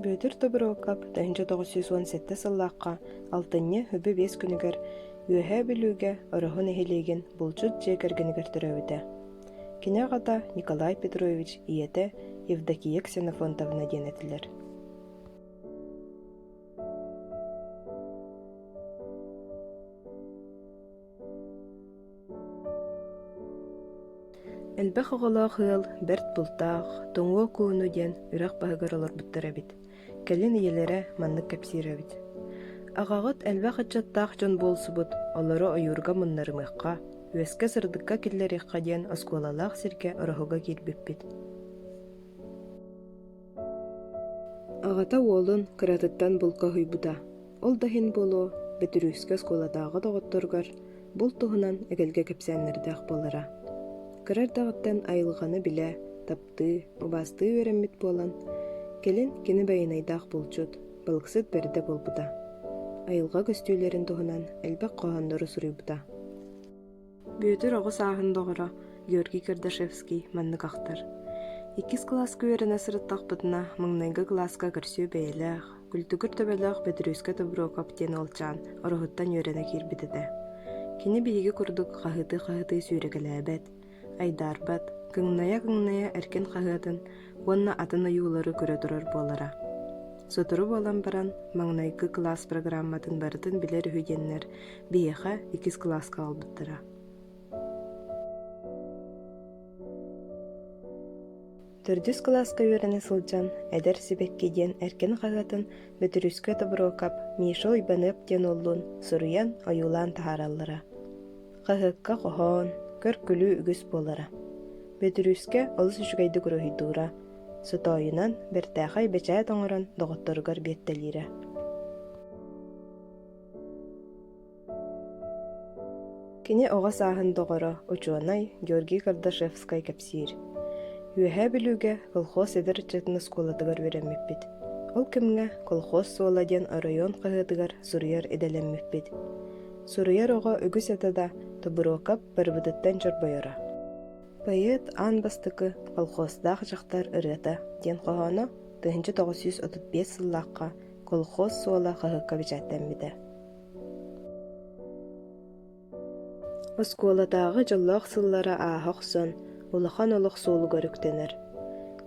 Бүөтүр Тобуруокап тыһыынча тоҕус сүүс уон сэттэ сыллаахха алтынньы үбү биэс күнүгэр Үөһээ Бүлүүгэ Ороһу нэһилиэгин булчут дьиэ кэргэнигэр төрөөбүтэ. Кини аҕата Николай Петрович, ийэтэ Евдокия Ксенофонтовна диэн этилэр. Элбэх оҕолоох ыал бэрт бултаах, тоҥуо кууну диэн үрэх баһыгар олорбуттар эбит. Кэлин ийэлэрэ маннык кэпсиир эбит. Аҕаҕыт элбэх ыччаттаах дьон буолсубут, олору ойуурга муннарымыахха, үөскэ сырдыкка киллэриэххэ диэн оскуолалаах сиргэ ороһуга киирбиппит. Аҕата уолун кыратыттан булка уһуйбута. Ол да иһин буолуо, Бөтүрүүскэ оскуолатааҕы доҕотторугар булт туһунан эгэлгэ кэпсээннэрдээх буолара. Кыра эрдэҕиттэн айылҕаны билэ, таптыы, убаастыы үөрэммит буолан, кэлин кини байанайдаах булчут, балыксыт бэрдэ буолбута. Айылҕа көстүүлэрин туһунан элбэх хоһооннору суруйбута. Бүөтүр оҕо сааһын доҕоро Георгий Кардашевский маннык ахтар. Иккис кылааска үөрэнэ сырыттахпытына, маҥнайгы кылааска көрсүө бэйэлээх, күлтүгүр төбөлөөх Бөтүрүөскэ Тобуруокап диэн уолчаан Ороһуттан үөрэнэ киирбит этэ. Кини биһиги курдук хаһыытыы-хаһыытыы сүүрэкэлээбэт, айдаарбат, кыҥнайа-кыҥнайа эркин хаһыатын уонна атын ойуулары көрө турар буолара. Сотору буолан баран, маҥнайгы кылаас программатын барытын билэр үһүгэннэр биһиэхэ иккис кылааска аҕалбыттара. Төрдүс кылааска үөрэнэ сылдьан эдэр сибэкки диэн эркин хаһыатын Бөтүрүскэ Тобуруокап Миша Уйбаныап диэн уоллуун суруйан ойуулаан таһаараллара. Хаһыакка хоһоон, көр-күлүү үгүс буолара. Бөтүрүүскэ олус үчүгэйдик уруһуйдуура, сотоойунан бэртээхэй бэчээт оҥорон доҕотторугар биэттэлиирэ. Кини оҕо сааһын доҕоро, учуонай Георгий Кардашевскай кэпсиир. Үөһээ Бүлүүгэ колхоз эдэр ыччатын оскуолатыгар үөрэммиппит. Ол кэмҥэ колхоз суола диэн оройуон хаһыатыгар суруйар идэлэммиппит. Суруйар оҕо үгүс этэ да, Тобуруокап барыбытыттан чорбойоро «Поэт аан бастакы колхоздаах дьахтар ырыата» диэн хоһооно тыһыынча тоҕус сүүс отут биэс сыллаахха колхоз суола хаһыакка бэчээттэммитэ. Оскуолатааҕы дьоллоох сыллара ааһа охсон, улахан олох суолугар үктэнэр.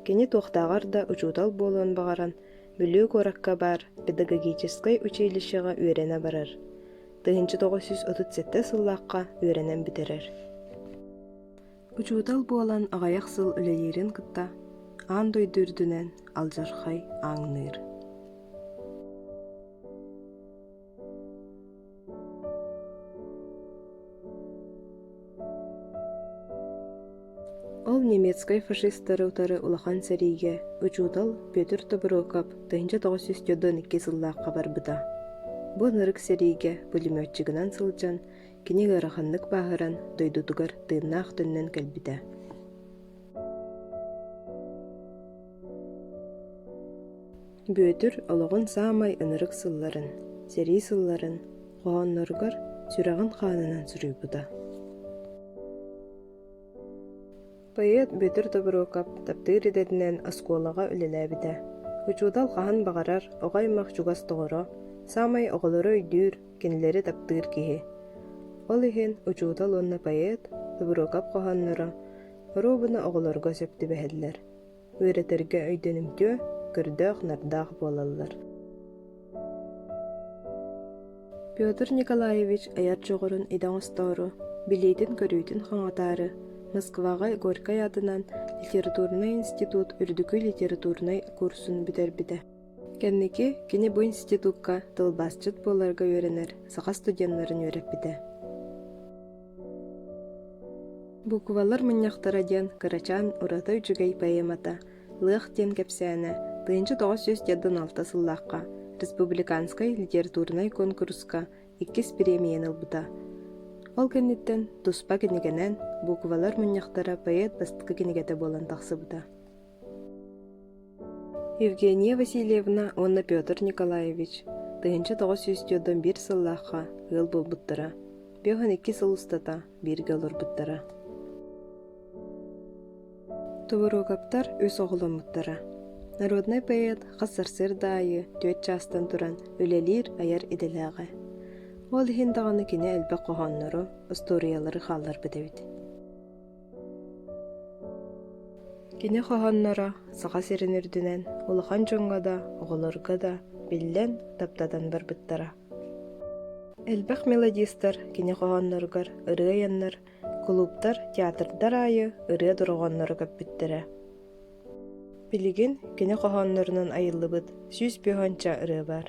Кини туохтааҕар да учуутал буолуон баҕаран, Бүлүү куоракка баар педагогическай училищеҕа үөрэнэ барар. Тыһыынча тоҕус сүүс отут сэттэ сыллаахха үөрэнэн бүтэрэр. Учуутал буолан аҕайах сыл үлэлиирин кытта аан дойду үрдүнэн алдьархай ааҥныыр. Ол немецкай фашистары утары улахан сэриигэ учуутал Петр Тоброков тыһыынча тоҕус сүүс дьоттон икки сыллаахха барбыта. Бу ынырык сэриигэ пулеметчигынан сылдьан, кини ыараханнык бааһыран, дойдутугар тыыннаах төннөн кэлбитэ. Бүөтүр олоҕун саамай ынырык сылларын, сэрии сылларын хоһоонноругар сүрэҕин хаанынан суруйбута. Поэт Бүөтүр Тобуруокап таптыыр идэтинэн оскуолаҕа үлэлээбитэ. Учуутал хаһан баҕарар оҕо-аймах чугас доҕоро, саамай оҕолору өйдүүр, кинилэри таптыыр киһи. Ол иһин учуутал уонна поэт Тобуруокап хоһоонноро Рубаны оҕолорго сөп түбэһэллэр. Үөрэтэргэ өйдөнүмтүө, көрдөөх-нардаах буолаллар. Петр Николаевич айар дьоҕурун идэ оҥостоору, билиитин-көрүүтүн хаҥатаары Москваҕа Горькай аатынан литературнай институт үрдүкү литературнай курсун бүтэрбитэ. Кэнники кини бу институкка тылбаасчыт буоларга үөрэнэр саха студеннарын үөрэппитэ. Буквалар мунньахтара диэн кырачаан ураты үчүгэй поэмата «Лыах» диэн кэпсээнэ тыйынча тоҕус сүүс дьаддан алта сыллаахха республиканскай литературнай куонкуруска иккис премияны ылбыта. Ол кэнниттэн туспа кинигэнэн буквалар мунньахтара поэт бастакы кинигэтэ буолан тахсыбыта. Евгения Васильевна уонна Петр Николаевич тыһыынча тоҕус сүүс дьондон биир сыллаахха ыал буолбуттара, бөх икки сыл устата бииргэ олорбуттара. Тувороговтар үс оҕоломмуттара. Народнай поэт хас сарсыарда аайы түөрт чаастан туран үлэлиир айар идэлээҕэ. Ол иһин даҕаны кини элбэх хоһооннору, устуоруйалары хаалларбыт эбит. Кини хоһоонноро Саха сирин үрдүнэн улахан дьоҥҥо да, оҕолорго да биллэн, таптатан барбыттара. Элбэх мелодистар кини хоһоонноругар ырыа айаннар, кулууптар, театрдар аайы ырыа дорҕоонноро көппүттэрэ. Билигин кини хоһооннорунан айыллыбыт сүүс бөһөнчө ырыа баар.